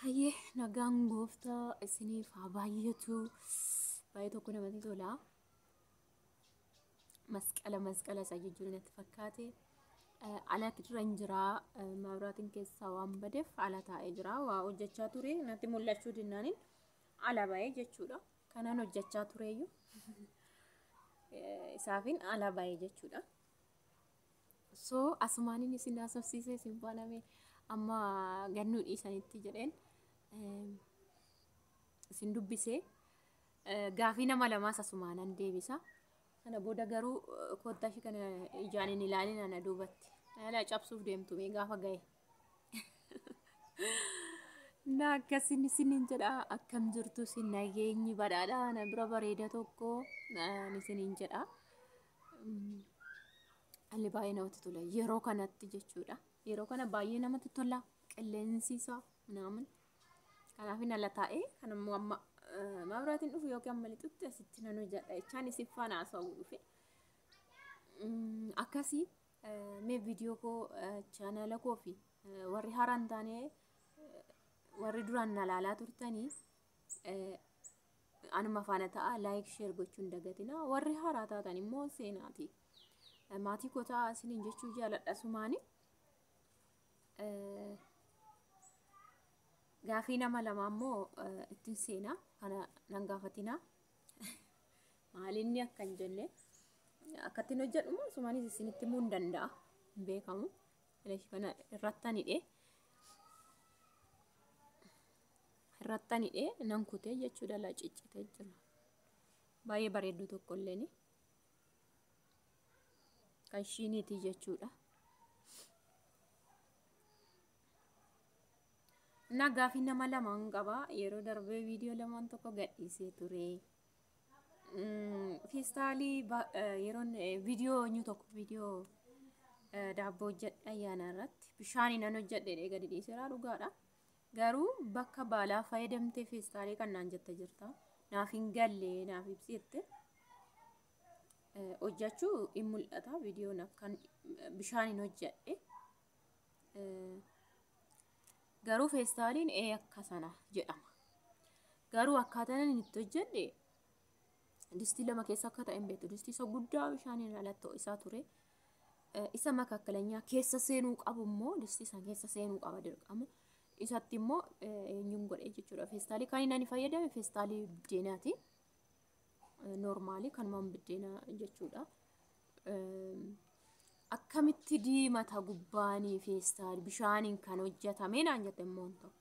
Hayyee nagaan gooftaa isiniif haa baay'atu. Baay'ee tokko namatti tola. Masqala masqala isaa jechuun natti fakkaate. Alatti irra hin jira. Mabraatiin keessaa waan badeef ala taa'ee jira. Waa hojjechaa ture natti mul'achuu dinnaaniin ala ba'ee jechuudha. Kanaan hojjechaa tureyyuu isaafin ala ba'ee jechuudha. so asumaanin isin haasofsiisee isin baaname amma gannuu dhiisanitti jedheen eem, isin dubbisee eh, gaafii nama lamaas asumaanan deebisa kana booda garuu eh, kottaa ishii kana ijaan hin ilaalin ana duubatti ala cabsuuf deemtu mee gaafa ga'e na akkasin isinin jedha akkam jirtu isin nageenyi badhaadha na bira bareeda tokko eh, isinin jedha Alli baay'ee namatti tola. Yeroo kanatti jechuudha. Yeroo kana baay'ee namatti tola. Qilleensi isaa naaman. Kanaaf hin ala taa'ee kan immoo amma mabraatiin dhufu yookiin amma lixutti asitti nan hojjedha jechaan isin faana haasa'uu dhufe. Akkasii mee viidiyoo koo chaanaala koo fi warri haaraan taanee warri duraan na laalaa turtanii Anuma faana ta'a like share gochuun dagatina warri haaraa taatan immoo seenaati. Eh, Maatii koo ta'a isiniin jechuu jaaladha sumaani. Eh, Gaafii nama lama immoo eh, ittiin seenaa kana nan gaafatinaa. maalinni akka hin jenne akkattiin hojjedhu immoo sumaanis isinitti himuu hin danda'a hin beekamu. Eleshi kana irratti anidhe. Irrattan hidhee nan kutee jechuu dala ciccitee jira. Baay'ee bareedduu tokko illeen kan ishiiniitii jechuudha. Innaa gaafii nama lamaan qaba. Yeroo darbee viidiyoo lamaan tokko gadhiisee ture. Feestaalii yeroon viidiyoo eenyu tokko viidiyoo daabboo hojjedha ayyaana irratti bishaanii nan hojjedhe gadi dhiiseera dhugaadha. Garuu bakka baalaa fayyadamtee feestaalee kan naan jette jirta. Naaf hin galle naaf ibsi jette. Eh, Hojjechuu hin mul'ata viidiyoon akkan bishaan hin hojjedhe. Eh, Garuu feestaaliin ee akka sana jedhama. Garuu akkaataan inni itti hojjedhe distii lama keessa akka ta'e hin beektu. Distii isa guddaa bishaan irraa lattoo isaa ture. isa makaakkalanyaa keessa seenuu qabu immoo distii san keessa seenuu qaba dirqama. Isatti immoo eenyuun godhee jechuudha. Feestaalii kan inni ani fayyadame feestaalii biddeenaati. Noormaalii kanumaan biddeenaa jechuudha. Akkamitti diimata gubbaanii feestaal bishaaniin kan hojjetame naan jette immoo tokko.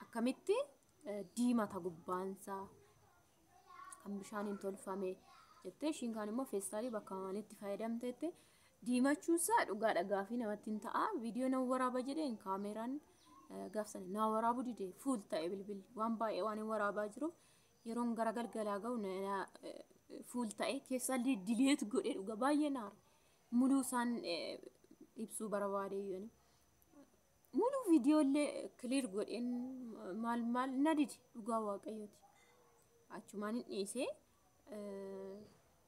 akkamitti eh, diimata gubbaansaa kan bishaaniin tolfame jettee ishiin kaan immoo feestaalii bakka maalitti fayyadamteetti diimachuunsaa dhugaa dhagaa fi namatti hin ta'a viidiyoo nan waraaba jedheen kaameeraan eh, gaafsan naa waraabuu dide fuul ta'e bilbilli waan baay'ee waan hin waraabaa jiruuf yeroon gara galgalaa ga'u na- na- eh, fuul ta'e keessaa li- dileet godhee dhuga baay'ee naara muluu isaan eh, ibsuu barbaade yooni Muluu viidiyoo illee kiliir godheen maal maal na dide dhugaa waaqayyooti. Achumaan hin dhiisee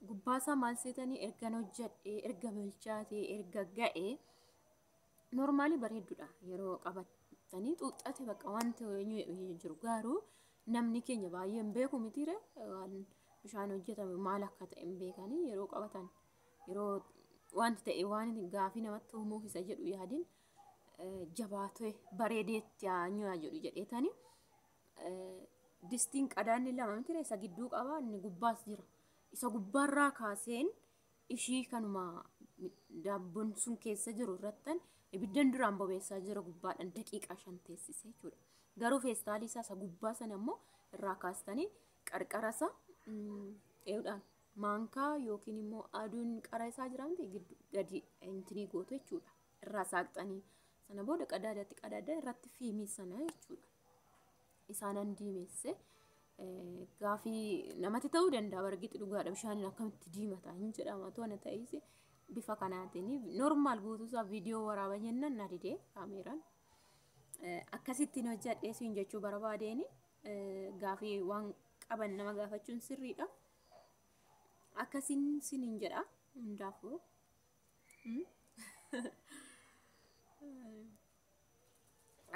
gubbaasaa maal seetanii ergan hojjedhee erga bilchaatee erga ga'ee noormaalii bareedduudha yeroo qabatanii xuuxxate bakka wanti hin jiru garuu namni keenya baay'ee hin beeku mitiire waan bishaan hojjetame maal akka ta'e hin beekanii yeroo qabatan yeroo wanti ta'e waan gaaffii namatti uumuuf isa jedhu yaadin jabaatee bareedee itti haa nyaayyu jedheetani distiin qadaanni lama mitire isa gidduu qaba inni gubbaas jira isa gubbaarraa kaaseen ishii kanuma daabboon sun keessa jiru irrattan ibiddan duraan bobeessaa jira gubbaadhaan daqiiqaa shan teessise jechuudha garuu feestaalii isaa isa gubbaa sana immoo irraa kaastanii qarqara isaa eeudhaan maankaa yookiin immoo aduun qara isaa jiraamte gadi intinii gootu jechuudha. irraa saaqxanii sana booda qadaadatti qadaadda irratti fiimii sana jechuudha. Isaanan diimeesse eh, gaafii namatti ta'uu danda'a bargitti dhugaadha bishaaniin akkamitti diimata hin jedhama toona ta'is bifa kanaatiin normaal guutuusaa viidiyoo waraaba jennaan na didee kaameeraan. Eh, akkasittiin hojjadhee siin jechuu barbaadeeni eh, gaafii waan qaban nama gaafachuun sirriidha. Akkasiin sinin jedha hundaafuu.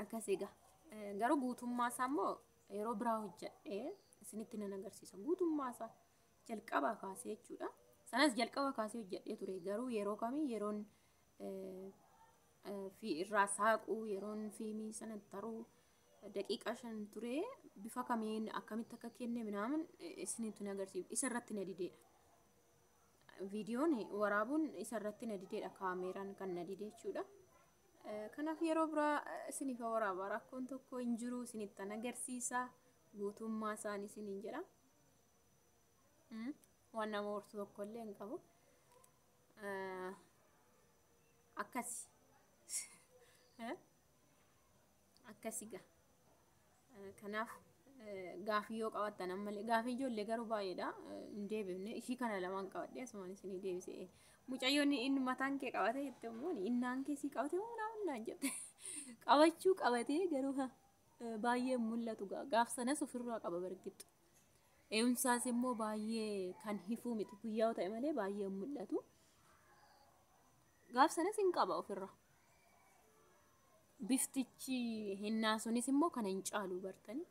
Akkas egaa. Eh, Garuu guutummaa isaa immoo yeroo biraa hojjedhee isinitti nan agarsiisa. Guutummaa isaa jalqabaa kaasee jechuudha. Sanas jalqaba kaasee hojjedhee ture. Garuu yeroo kamii yeroon eh, eh, fi irraa saaquu, yeroon fiimii sana taruu daqiiqaa shan ture bifa kamiin akkamitti akka kenne minaamin isinitti hin agarsiisu. Isa irratti na dideedha. viidiyoon waraabuun isarratti na dideedha kaameeraan kan na dide jechuudha. Kanaaf yeroo biraa isiniif waraabaa rakkoon tokko hin jiru isinittan agarsiisa guutummaa isaanii isiniin jedha. Waan nama hortu tokko illee hin qabu. Akkasi. akkasi gaa kanaaf gaafii yoo qabattan ammallee gaafii ijoollee garuu baay'eedha hin deebifne ishii kana lamaan qabadhe asumaan isinii deebise mucayyoon inni mataan kee qabate jette immoo innaan kee sii qabate moo naa innaan jette qabachuu qabatee garuu ha baay'ee mul'atu gaa gaaf sanas ofirraa qaba bargittu eeyumsaas immoo baay'ee kan hifuu miti guyyaa ta'e malee baay'ee mul'atu. gaaf sanas hin qaba ofirra. Biftichi hennaa sunis immoo kana hin caalu bartanii.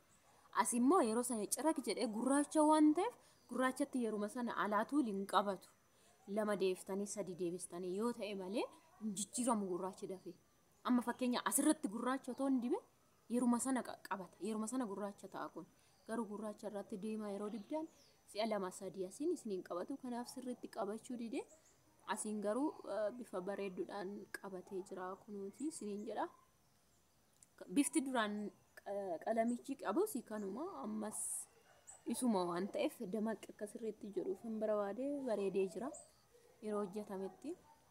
As immoo yeroo sana ciraq jedhee gurraacha waan ta'eef gurraachatti yeruma sana alaatuu hin qabatu. Lama deebiftanii sadi deebistanii yoo ta'e malee hin jijjiiramu gurraachi dafee. Amma fakkeenya asirratti gurraacha otoo hin dibin yeruma sana qaqqabata yeruma sana gurraacha ta'a kun garuu gurraacha irratti diimaa yeroo dibdan si'a lama sadii asiin isiniin qabatu kanaaf sirriitti qabachuu dide asiin garuu eh, bifa bareedduudhaan qabatee jira kunuuti isiniin jedha bifti duraan eh, qalamichi qabus kanuma ammas isuma waan ta'eef damaqi akka sirriitti jedhuuf hin barbaade bareedee jira yeroo hojjetametti.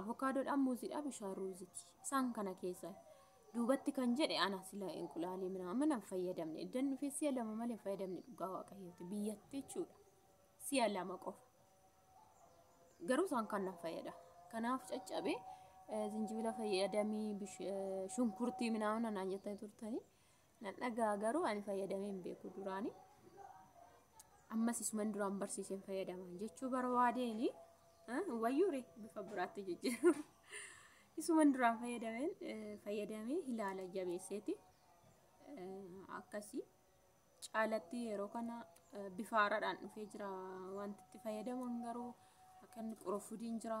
Avokaadoodhaan muuziidhaa bishaan ruuziti. Isaan kana keessa duubatti kan jedhe ana sila inqulaalee minaamin hin fayyadamne. Iddan dhufee si'a lama malee hin fayyadamne dhugaa waaqayyooti. Biyyatti jechuudha. Si'a lama qofa. Garuu isaan kan nan fayyada. Kanaaf caccabe zinjibila fayyadamii shunkurtii minaamin naan jettanii turtanii. Nan dhaga'a garuu ani fayyadamee hin beeku duraani. Ammas isuman duraan barsiiseen fayyadaman jechuu barbaadeeni. Wayyuure bifa biraatti jijjiiru. Isuman duraan fayyadameen fayyadamee ilaala jabeesseeti. Akkasii caalatti yeroo kana bifa haaraadhaan dhufee jira. Wanti itti fayyadaman garuu akka inni qurufudiin jira.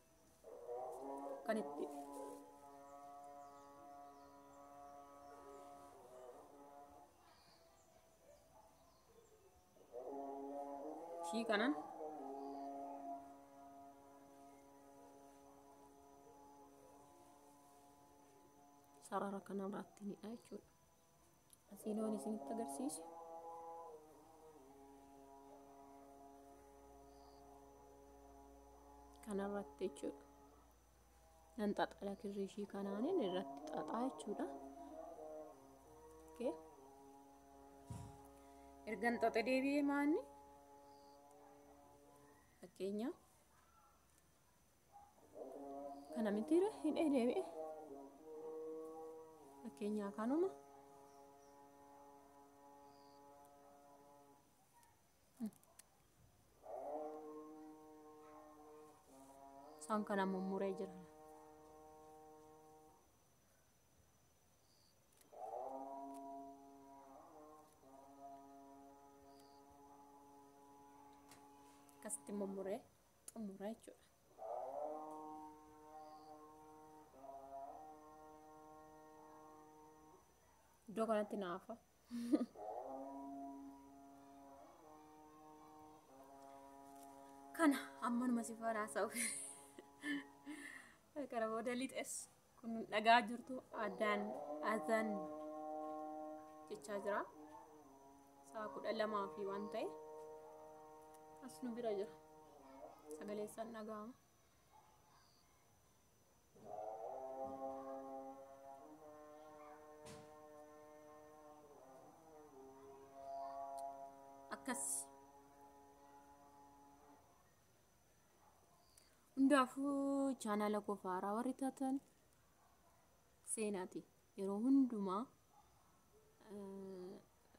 kan itti ishii kanan sarara kanarraatti ni jechuudha. Asiinoon isinitti agarsiisu. Kanarratti jechuudha. Nan xaxala kirrii ishii kanaanin irratti xaxaa jechuudha. Okay. Ergan xaxe deebi'ee maanni fakkeenyaaf kana mitiire hidhee deebi'e fakkeenyaa kanuma isaan kana mummuree jira akkasitti mummuree xumura jechuudha. Iddoo kanatti naafa. Kana ammanuma si faana haasa'u. Kana booda lixes. kun dhagaa jirtu addaan azan jechaa jira sa'a kudha lamaa fi waan ta'e as nu bira jira sagalee isaan dhaga'ama akkas Hundaafuu chaanaala koo faaraa warri taatan seenaati. Yeroo hundumaa eh,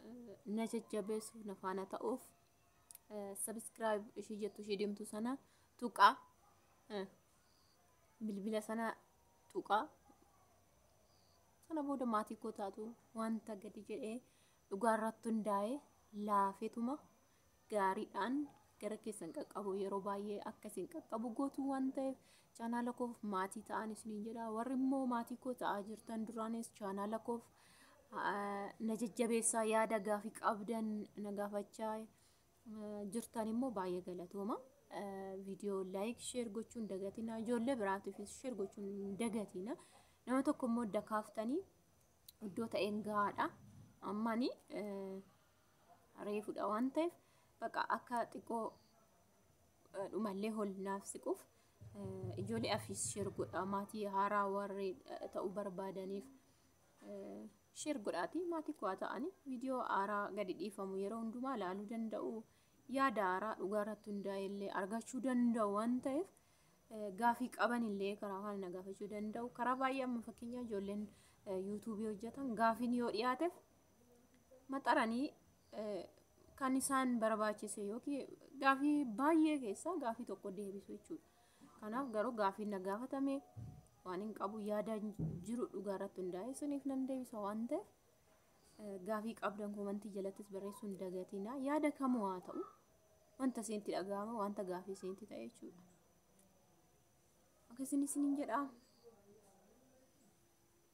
eh, na jajjabeessuuf na faana ta'uuf sabiskiraayib ishii jettu ishii deemtu sana tuqaa eh, bilbila sana tuqaa sana booda maatii koo taatu wanta gadi jedhee dhugaa irratti hundaa'ee laafetuma gaariidhaan gara keessan qaqqabu yeroo baay'ee akka isin qaqqabu gootu waan ta'eef chaanaala koof maatii ta'an isiniin jedha warri immoo maatii koo ta'aa jirtan duraanis chaanaala koof ah, na jajjabeessaa yaada gaafii qabdan na gaafachaa eh, jirtan immoo baay'ee galatooma Eh, viidiyoo laayik sheer gochuun dagatina ijoollee biraatiifis sheer gochuun dagatina nama tokko immoo daka kaaftanii iddoo ta'een gahaadha ammani eh, reefudha waan ta'eef baqa akka xiqqoo dhumallee hol naaf siquuf ijoollee afiis sheer godhaa maatii haaraa warri ta'uu barbaadaniif sheer godhaatii maatii kuwaa ta'anii viidiyoo haaraa gadi dhiifamu yeroo hundumaa ilaaluu danda'u yaada haaraa dhugaa irratti hundaa'e illee argachuu danda'u waan ta'eef gaafii qaban illee karaa kana na gaafachuu danda'u karaa baay'ee amma fakkeenyaa ijoolleen yuutuubii hojjetan gaafiin yoo dhiyaateef maxaranii eh, kan isaan barbaachise yookiin gaafii baay'ee keessaa gaafii tokko deebisu jechuudha. Kanaaf garuu gaafii na gaafatame waan hin qabu yaada jiru dhugaa irratti hundaa'e suniif nan deebisa waan ta'eef eh, gaafii qabdan komantii jalattis barreessuu hin dagatinaa yaada kamuu haa ta'u wanta isinitti dhaga'ame wanta gaafii isinitti ta'e jechuudha. Akkasiin isiniin jedhaa.